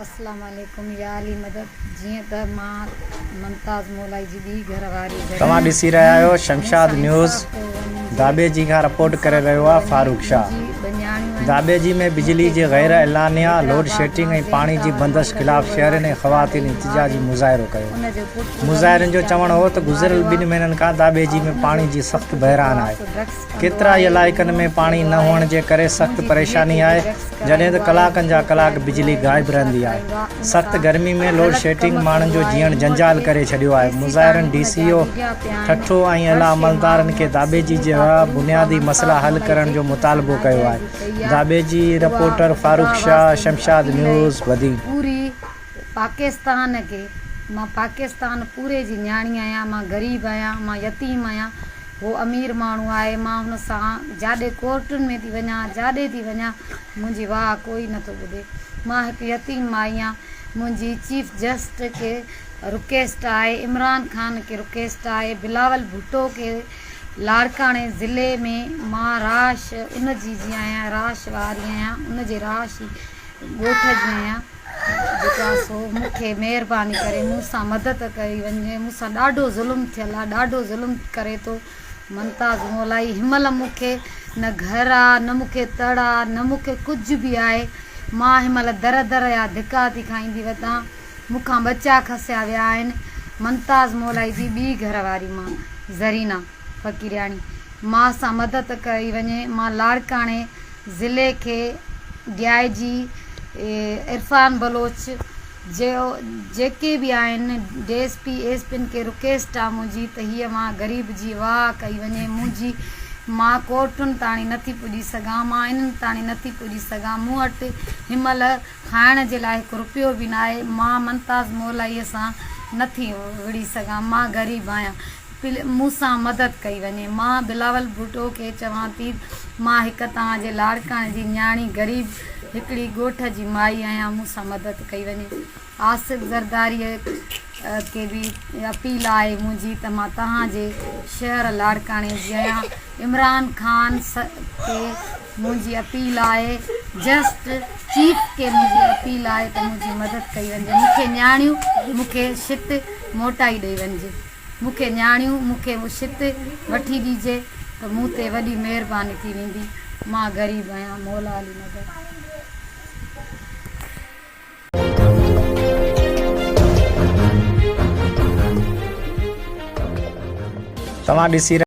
اسلام عليڪم يا علي مدد جيئن ته مان ممتاز مولائي جي ٻي گهر واري جڏهن توهان ڏسي رهيا آهيو مون شمشاد سان نيوز انصاف ڪيو وڃي جي داٻي جي کان رپورٽ انصاف ڪري رهيو ڪيو آهي وڃي فاروق جي شاهه منهنجي ٻنياڻيون آهن داٻي جي ۾ بجلي مونکي جي غير گهرائون اعلانيه لوڊ حيدرآباد شيٽنگ مان ۽ زين پاڻي جي خان بندش ملڪ خلاف جو شهرين ۽ وارث خواتين ڪاري احتجاجي ماري مظاهرو ڪيو ان جو پٽ رميش مظاهرين جو چوڻ ڪاري هو ته گذريل ماريو ٻن آهي مهينن کان داٻي جي ۽ ۾ ان جو پاڻي جي سخت پٽ بحران آهي فواز ڊرگس ڪيترائي علائقن ۾ پاڻي نه هئڻ جي ڪري سخت پريشاني آهي، جڏهن ته ڪلاڪن جا ڪلاڪ بجلي غائب رهندي آهي. سخت گرمي ۾ لوڊشيڊنگ ماڻهن جو جيئڻ جنجال ڪري ڇڏيو آهي. مظاهرن ڊي سي او ٺٽو ۽ اعليٰ عملدارن کي داٻيجي جهڙا بنيادي مسئلا حل ڪرڻ جو مطالبو ڪيو آهي. Dabeji, reporter Farooq Shah, Shamshad news, Badin. پوري پاڪستان کي مان پاڪستان پوري جي نياڻي آهيان مان غريب آهيان مان يتيم آهيان هو امير ماڻهو آهي، مان هن سان جاڏي ڪورٽن ۾ ٿي وڃان، جاڏي ٿي وڃان، منهنجي واهه ڪوئي نٿو ٻڌي. مان هڪ يتيم مائي آهيان. منهنجي چيف جسٽس کي رڪيسٽ آهي، عمران خان کي رڪيسٽ آهي، بلاول ڀٽو کي، لاڙڪاڻي ضلعي ۾ مان راش ان جي جي آهيان، راش واري آهيان، ان جي راش ڳوٺ جي آهيان. جيڪا سو مون کي مهرباني ڪري مون سان مدد ڪئي وڃي مون سان ڏاڍو ظلم ٿيل آ ڏاڍو ظلم ڪري ٿو ممتاز مولائي هن مهل مون کي نه گهر آ نه مون کي تڙ آ نه مون کي ڪجهه به آهي مان هن مهل در در جا ڌڪا ٿي کائيندي وتان مون کان ٻچا کسيا ويا آهن ممتاز مولائي جي ٻي گهر واري مان زرينا فقيرياڻي، ماء سان مدد ڪئي وڃي. مان لاڙڪاڻي ضلعي کي ڊي آء جي عرفان بلوچ جيو جيڪي به آهن D S P S P کي رڪيسٽ آ منهنجي ته هيء ماء غريب جي واهه ڪئي وڃي منهنجي مان ڪورٽن تاڻي نٿي پڄي سگهان مان انهن تاڻي نٿي پڄي سگهان مون وٽ هنمهل کائڻ جي لاء هڪ رپيو به ناهي مان منتاز مولائي سان نٿي وڙهي سگهان مان غريب آهيان مون سان مدد ڪئي وڃي. مان بلاول ڀٽو کي چوان ٿي ته مان هڪ توهان جي لاڙڪاڻي جي نياڻي غريب هڪڙي ڳوٺ جي مائي آهيان مون سان مدد ڪئي وڃي. آصف زرداريء کي به اپيل آهي منهنجي ته مان توهان جي شهر لاڙڪاڻي جي آهيان. عمران خان کي منهنجي اپيل آهي جسٽ چيف کي منهنجي اپيل آهي ته منهنجي مدد ڪئي وڃي مون کي نياڻيون مون کي شٽ موٽائي ڏئي وڃي. مون کي نياڻيون، مون کي مشت وٺي ڏيجي ته مون تي وڏي مهرباني ٿي ويندي. مان غريب آهيان. مولا علي نگر. توهان ڏسي رهيا.